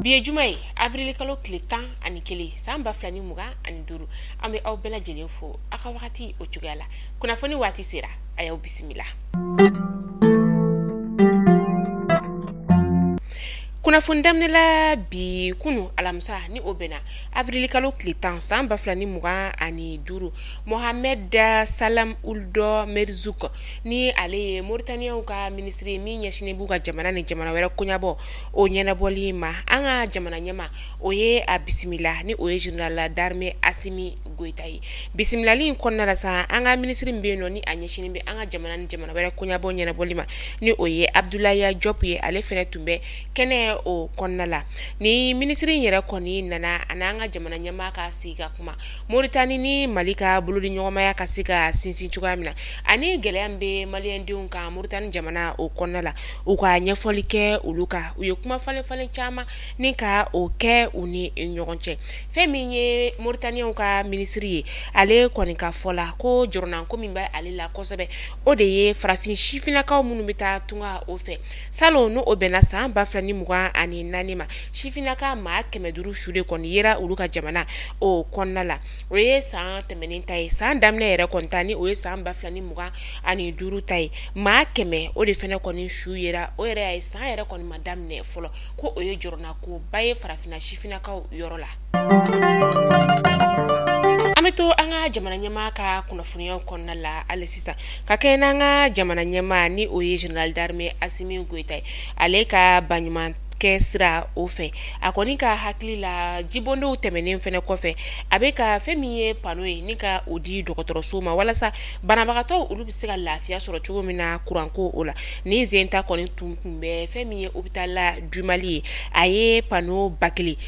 bi ye juma ye avril kalo tile tan ani kelen san ba fila ni mugan ani duuru an bɛ aw bɛɛ lajɛlen fo a ka wagati o cogoya la kunnafoni waati sera a y'aw bisimila kunnafoni daminɛla bi kunu alamisa ni o bɛnna avril kalo tile tan san ba fila ni mugan ani duuru Mohamed Salam Ould Merzouki ni ale ye Mauritaniens ka minisiri ye min ɲɛsinnen b'u ka jamana ni jamana wɛrɛ koɲabɔ o ɲɛnabɔli in ma an ka jamana ɲɛmaa o ye a bisimila ni o ye général d'armée Assimi Goita ye bisimilali in kɔnɔna la sa an ka minisiri min bɛ yen nɔ ni a ɲɛsinnen bɛ an ka jamana ni jamana wɛrɛ koɲabɔ ɲɛnabɔli ma ni o ye Abdoulaye Diop ye ale fana tun bɛ kɛnɛ o kɔnɔna la ni minisiri in yɛrɛ kɔni nana a n'an ka jamana ɲɛmaa ka sigi ka kuma Moritani ni mali ka bolodiɲɔgɔnmaya ka se ka sinsin cogoya min na ani gɛlɛya min bɛ maliyɛndenw kan Moritani jamana o kɔnɔna la u ka ɲɛfɔli kɛ olu kan u ye kumafalenfalen caman ni ka o kɛ u ni ɲɔgɔn cɛ fɛn min ye moritaniyɛnw ka minisiri ye ale kɔni ka fɔ la ko jɔrɔnanko min bɛ ale la kosɛbɛ o de ye farafin sifinnakaw minnu bɛ taa tunga o fɛ Salon n' o bɛnna san ba fila ni mugan ani naani ma sifinnaka maa kɛmɛ duuru su de kɔni yera olu ka jamana o kɔnɔna la o ye san tɛmɛnen ta ye san daminɛ yɛrɛ kɔni ta ni o ye san ba fila ni mugan ani duuru ta ye maa kɛmɛ o de fana kɔni su yera o yɛrɛ a ye san yɛrɛ kɔni ma daminɛ fɔlɔ ko o ye jɔrɔnanko ba ye farafinna sifinnakaw yɔrɔ la an bɛ to an ka jamana ɲɛmaa ka kunnafoniya o kɔnɔna la hali sisan ka kɛɲɛ n'an ka jamana ɲɛmaa ni o ye général d'armée Assimi Goita ye ale ka baɲumankɛ sira o fɛ a kɔni ka hakili la jibondonw tɛmɛnen fana kɔfɛ a bɛ ka fɛn min ye pano ye ni ka o di dɔgɔtɔrɔso ma walasa banabagatɔ olu bɛ se ka lafiya sɔrɔ cogo min na kuranko o la nin sen ta kɔni tun tun bɛ fɛn min ye hôpital du Mali ye a ye pano ba kelen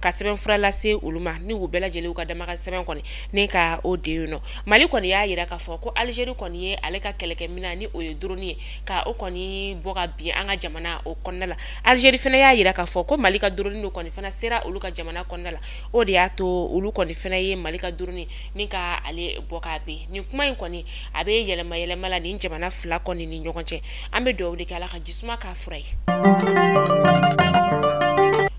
ka sɛbɛn fura lase olu ma ni u bɛɛ lajɛlen ka damakasi sɛbɛn kɔni ni ka o di yen nɔ mali kɔni y'a yira k'a fɔ ko alizeri kɔni ye ale ka kɛlɛkɛmina ni o ye dɔrɔni ye ka o kɔni bon ka bin an ka jamana o kɔnɔna la alizeri fana y'a yira k'a fɔ ko mali ka dɔrɔni in kɔni fana sera olu ka jamana kɔnɔna la o de y'a to olu kɔni fana ye mali ka dɔrɔni ni ka ale bon ka bin nin kuma in kɔni a bɛ yɛlɛma yɛlɛma la nin jamana fila kɔni ni ɲɔgɔn cɛ an bɛ dugawu de kɛ ala ka jisuma k'a fura ye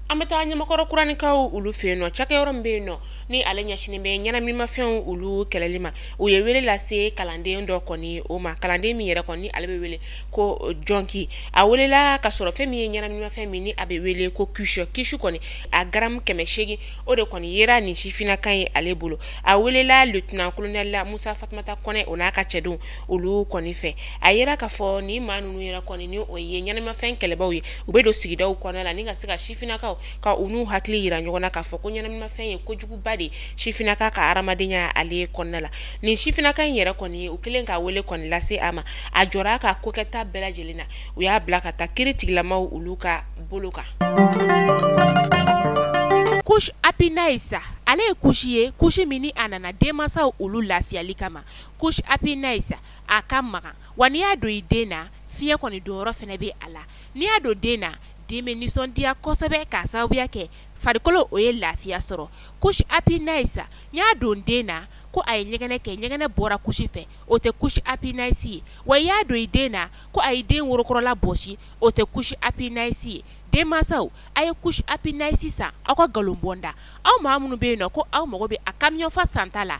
an bɛ taa ɲamakɔrɔ kuranikaw olu fɛ yen nɔ cakɛyɔrɔ min bɛ yen nɔ ni ale ɲɛsinnen bɛ ɲɛnaminimafɛnw olu kɛlɛli ma u ye wele lase kalanden dɔ kɔni o ma kalanden min yɛrɛ kɔni ale bɛ wele ko jɔnki a welela ka sɔrɔ fɛn min ye ɲɛnaminimafɛn min ni a bɛ wele ko kisɔ kisu kɔni a garamu kɛmɛ seegin o de kɔni yera nin sifinnaka in ye ale bolo a welela lieutenant colonel la musa fatumata kɔnɛ o n'a ka cɛdenw olu kɔni fɛ a yira k'a fɔ ni maa ninnu yɛrɛ kɔni ni o ye ɲɛnaminimafɛn kɛlɛbaw ye u bɛ don sigidaw kɔnɔ la ni ka se ka sifinnakaw ka u n'u hakili yira ɲɔgɔn na k'a fɔ ko ɲɛnaminimafɛn ye kojuguba de ye sifinnaka ka hadamadenya ale kɔnɔna la nin sifinnaka in yɛrɛ kɔni ye u kɛlen ka wele kɔni lase a ma a jɔra a ka kokɛta bɛɛ lajɛlen na u y'a bila ka taa kiri tigilamaw olu ka bolo kan couche happy nice ale ye couche ye couche min ni a nana denmasaw olu lafiyali kama couche happy nice a ka magan wa n'i y'a don i den na fiɲɛ kɔni donyɔrɔ fana bɛ a la n'i y'a don den na den bɛ nisɔndiya kosɛbɛ k'a sababuya kɛ farikolo o ye lafiya sɔrɔ couche happy nice n'i y'a don den na ko a ye ɲɛgɛnɛ kɛ ɲɛgɛnɛ bɔra couche fɛ o tɛ couche happy nice ye wa i y'a don i den na ko a ye den worokɔrɔla bɔsi o tɛ couche happy nice ye denmasaw a ye couche happy nice san aw ka nkalon bɔ n da aw maa minnu bɛ yen nɔ ko aw mago bɛ a kamiyɔnfa santa la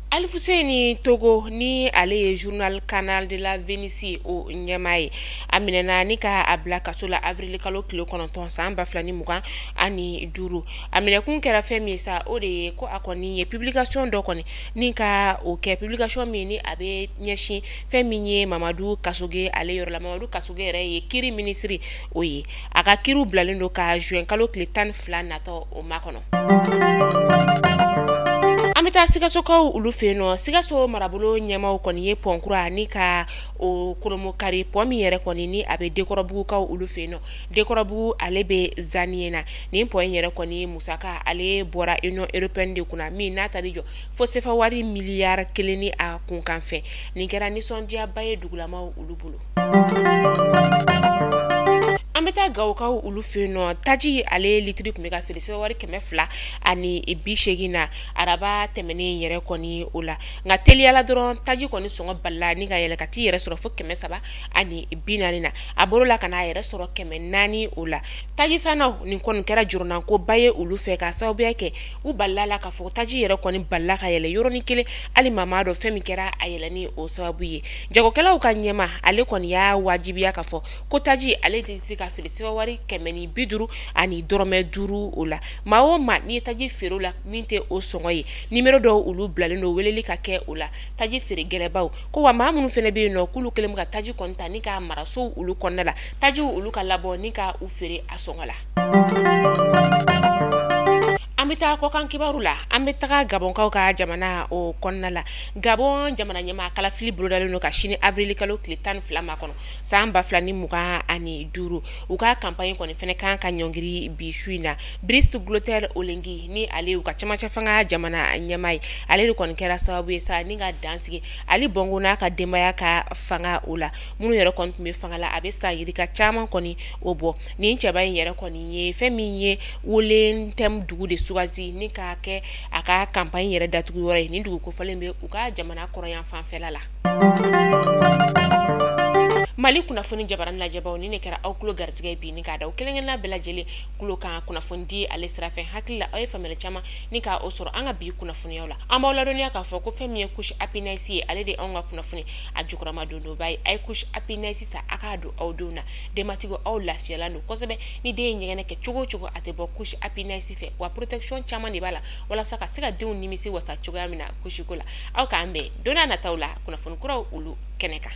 Alifuseni togo ni ale ye journal canard de la venise o ɲɛmaa ye a minɛna ni ka a bila kaso la awirili kalo tile kɔnɔntɔn san ba fila ni mugan ani duuru a minɛkun kɛra fɛn min ye sa o de ye ko a kɔni ye publication dɔ kɔni ni ka o kɛ publication min ni a bɛ ɲɛsin fɛn min ye mamadu kasoge ale yɔrɔ la mamadu kasoge yɛrɛ ye kiri minisiri o ye a ka kiri o bilalen don ka zuwɛn kalo tile tan ni fila natɔ o makɔnɔ an bɛ taa sikasokaw olu fɛ yen nɔ sikaso marabolo ɲɛmaaw kɔni ye pɔn kura ni ka o kolomokari pɔn min yɛrɛ kɔni ni a bɛ dekɔrɔbugukaw olu fɛ yen nɔ dekɔrɔbugu ale bɛ zaniyena nin pɔn in yɛrɛ kɔni musaka ale bɔra union européenne de kunna min n'a taar'i jɔ fo sefa wari miliyari kelen ni a kunkanfɛn nin kɛra nisɔndiyaba ye dugulamaw olu bolo an bɛ taa gawukaw olu fɛ yen nɔ taji ale litiri tun bɛ ka feere sefawari kɛmɛ fila ani bi seegin na araba tɛmɛnen yɛrɛ kɔni o la nka teliya la dɔrɔn taji kɔni sɔngɔ balala ni ka yɛlɛ ka t'i yɛrɛ sɔrɔ fo kɛmɛ saba ani bi naani na a bɔr'o la ka n'a yɛrɛ sɔrɔ kɛmɛ naani o la taji sannaw nin kɔni kɛra jɔrɔnankoba ye olu fɛ ka sababuya kɛ u balala la k'a fɔ taji yɛrɛ kɔni balala ka yɛlɛ yɔrɔnin kelen hali maa m'a dɔn fɛn min kɛra a yɛlɛni o sababu ye jagokɛlaw ka ɲɛmaa ale kɔni y'a wajibiya k'a fɔ ko taji ale tɛ se ka feere sefawari kɛmɛ ni bi duuru ani dɔrɔmɛ duuru o la maa o maa n'i ye taji feere o la min tɛ o sɔngɔ ye nimero dɔw olu bilalen don weleli ka kɛ o la taji feere gɛlɛbaw ko wa maa minnu fana bɛ yen nɔ k'olu kɛlen bɛ ka taji kɔni ta ni k'a mara sow olu kɔnɔna la tajiw olu ka labɔ ni ka u feere a sɔngɔ la an bɛ taa kɔkan kibaru la an bɛ taga gabɔnkaw ka jamana o kɔnɔna la gabɔn jamana ɲɛmaa kalafili bolodalen don ka sin avril kalo tile tan ni fila ma kɔnɔ san ba fila ni mugan ani duuru u ka kanpaɲi kɔni fɛnɛ kan ka ɲɔngiri bi su in na brice clotaire oligui nin ale y'u ka camancɛ fanga jamana ɲɛmaa ye ale de kɔni kɛra sababu ye sa ni ka dan sigi ali bongo n'a ka denbaya ka fanga o la minnu yɛrɛ kɔni tun bɛ fanga la a bɛ san yirika caman kɔni o bɔ nin cɛba in yɛrɛ kɔni ye fɛn min ye woleu-ntem dugu de sugati ni k'a kɛ a ka kanpaɲi yɛrɛ datugu yɔrɔ ye nin dugu kofɔlen bɛ u ka jamana kɔrɔnyanfan fɛla la mali kunnafoni jabaran lajɛbaw nin de kɛra aw tulo garisɛgɛ bi ni k'a da aw kelenkelenna bɛɛ lajɛlen tulo kan kunnafoni di ale sira fɛ hakili la aw ye faamuyali caman ni ka o sɔrɔ an ka bi kunnafoniyaw la an b'aw ladɔnniya k'a fɔ ko fɛn min ye couche happiness ye ale de anw ka kunnafoni a jukɔrɔmadondonba ye a ye couche happiness san a k'a don aw denw na denbatigiw aw lafiyalan don kosɛbɛ ni den ye ɲɛgɛnɛ kɛ cogo o cogo a tɛ bɔ couche happiness fɛ wa protection caman de b'a la walasa ka se ka denw nimisi wasa cogoya min na couche ko la aw k'an bɛn don n'a nataw la kunnafoni kuraw olu kɛnɛ kan